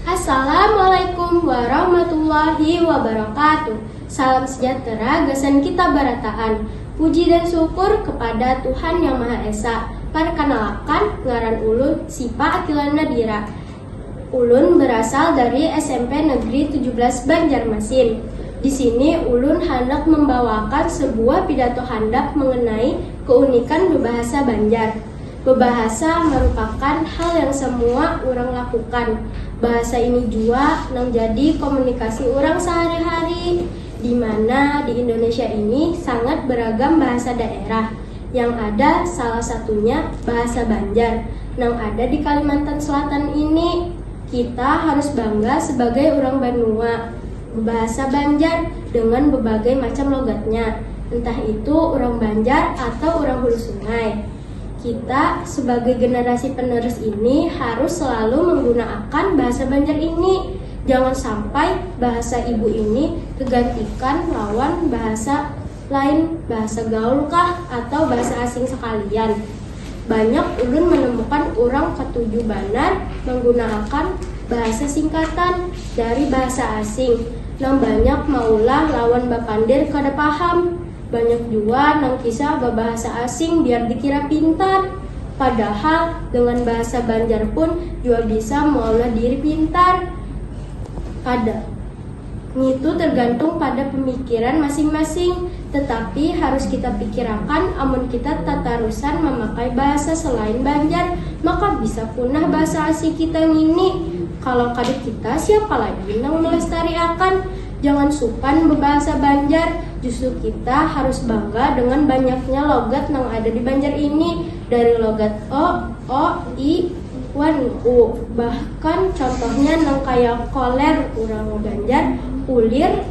Assalamualaikum warahmatullahi wabarakatuh Salam sejahtera gasan kita barataan Puji dan syukur kepada Tuhan Yang Maha Esa Parkanalakan, ngaran ulun Sipa Akila Nadira Ulun berasal dari SMP Negeri tujuh belas Banjarmasin. Di sini ulun handak membawaakan sebuah pidato handap mengenai keunikan bebahasa Banjar. Bebahasa merupakan hal yang semua urang lakukan. Bahasa ini jua nang jadi komunikasi urang sehari-hari. di mana di Indonesia ini sangat beragam bahasa daerah, yang ada salah satunya bahasa Banjar nang ada di Kalimantan Selatan ini. Kita harus bangga sebagai urang banua bebahasa Banjar dengan bebagai macam logatnya, entah itu urang Banjar atau urang Hulu Sungai. Kita sebagai generasi penerus ini harus selalu menggunaakan bahasa Banjar ini, jangan sampai bahasa ibu ini kegantikan lawan bahasa lain bahasa gaul kah atau bahasa asing sekalian. Banyak ulun menemukan urang ketuju banar menggunaakan bahasa singkatan dari bahasa asing nang banyak maulah lawan bapandir kada paham. Banyak jua nang kisah babahasa asing biar dikira pintar. Padahal dengan bahasa Banjar pun jua bisa maulah diri pintar. Kada. Ngitu tergantung pada pemikiran masing-masing. Tetapi harus kita pikirakan amun kita tatarusan mamakai bahasa selain Banjar, maka bisa punah bahasa asli kita ngini. Kalau kada kita, siapa lagi nang melestariakan? Jangan supan bebahasa Banjar, justru kita harus bangga dengan banyaknya logat nang ada di Banjar ini, dari logat e, o, i, wan u, bahkan contohnya nang kaya koler urang Banjar, ulir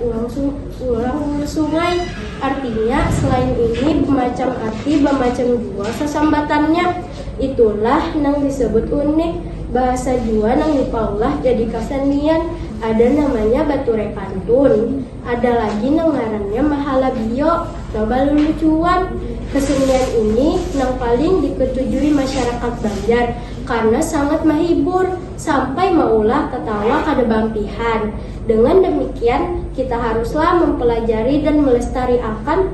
urang hulu sungai. Artinya, selain ini bemacam arti, bamacam jua sasambatannya. Itulah nang disebut unik. Bahasa jua nang dipaulah jadi kasenian. Ada namanya baturai pantun. Ada lagi nang ngarannya mahala bio. Coba lulucuan. Kesenian ini nang paling diketujui masyarakat Banjar karena sangat mahibur sampai maulah tetawa kada baampihan. Dengan demikian, kita haruslah mempelajari dan melestariakan.